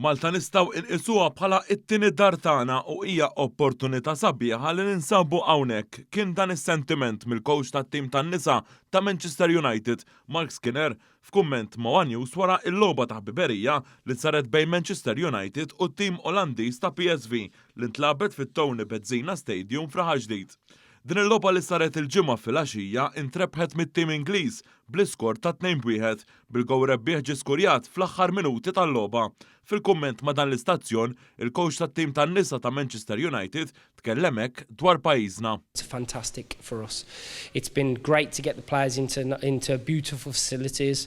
Malta nistgħu inqisuha bħala t-tieni dar tagħna u hija opportunità sabiħa li ninsabu hawnhekk, kien dan is-sentiment mill-kowċ tat-tim tan-nisa ta' Manchester United, Marc Skinner, f'kumment ma' one News wara l-logħba ta' ħbiberija li saret bejn Manchester United u t-tim Olandiż ta' PSV li ntlagħbet fit-Tony Bezzina Stadium f'Raħal Ġdid. Din il-logħba li saret il-Ġimgħa filgħaxija intrebħet mit-tim Ingliż bl-iskor ta' tnejn b'wieħed, bil-gowl rebbieħ ġie skurjat fl-aħħar minuti tal-logħba. Fil-kumment ma' dan l-istazzjon, il-kowċ tat-tim tan-nisa ta' Manchester United tkellem hekk dwar pajjiżna. It's fantastic for us. It's been great to get the players into into beautiful facilities.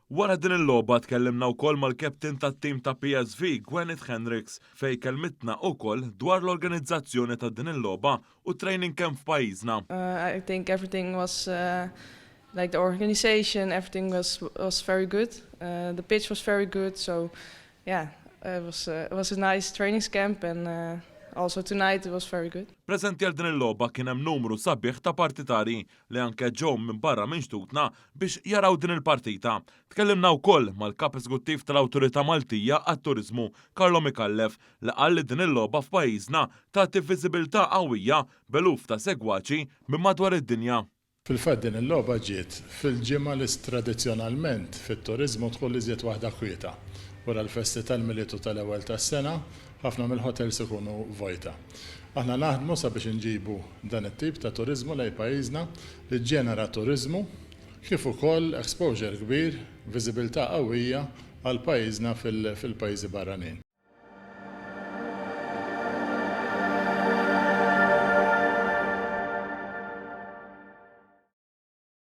Wara din il-logħba tkellimna wkoll mal-captain tat-tim ta' PSV, Gwenith Hendricks, fejn kellmitna ukoll dwar l-organizzazzjoni ta' din il-logħba u t-training camp f'pajjiżna. I think everything was like the organization, everything was was very good, the pitch was very good, so yeah it was it was a nice trainings camp and also tonight it was very good. Preżenti għal din il-logħba kien hemm numru sabiħ ta' partitarji li anke ġew minn barra minn xtutna biex jaraw din il-partita. Tkellimna wkoll mal-Kap Eżguttiv tal-Awtorità Maltija għat-Turiżmu, Carlo Micallef, li qal li din il-logħba f'pajjiżna tagħti viżibilità qawwija b'eluf ta' segwaċi minn madwar id-dinja. Fil-fatt din il-logħba ġiet fil-ġimgħa li tradizzjonalment fit-turiżmu tkun l-iżjed waħda kwieta, wara l-festi tal-Milied u tal-Ewwel tas-Sena, Ħafna mill-ħotels ikunu vojta. Aħna naħdmu sabiex inġibu dan it-tip ta' turiżmu lejn pajjiżna li ġġenera turiżmu kif ukoll exposure kbir, viżibilità qawwija għal pajjiżna fil-pajjiżi barranin.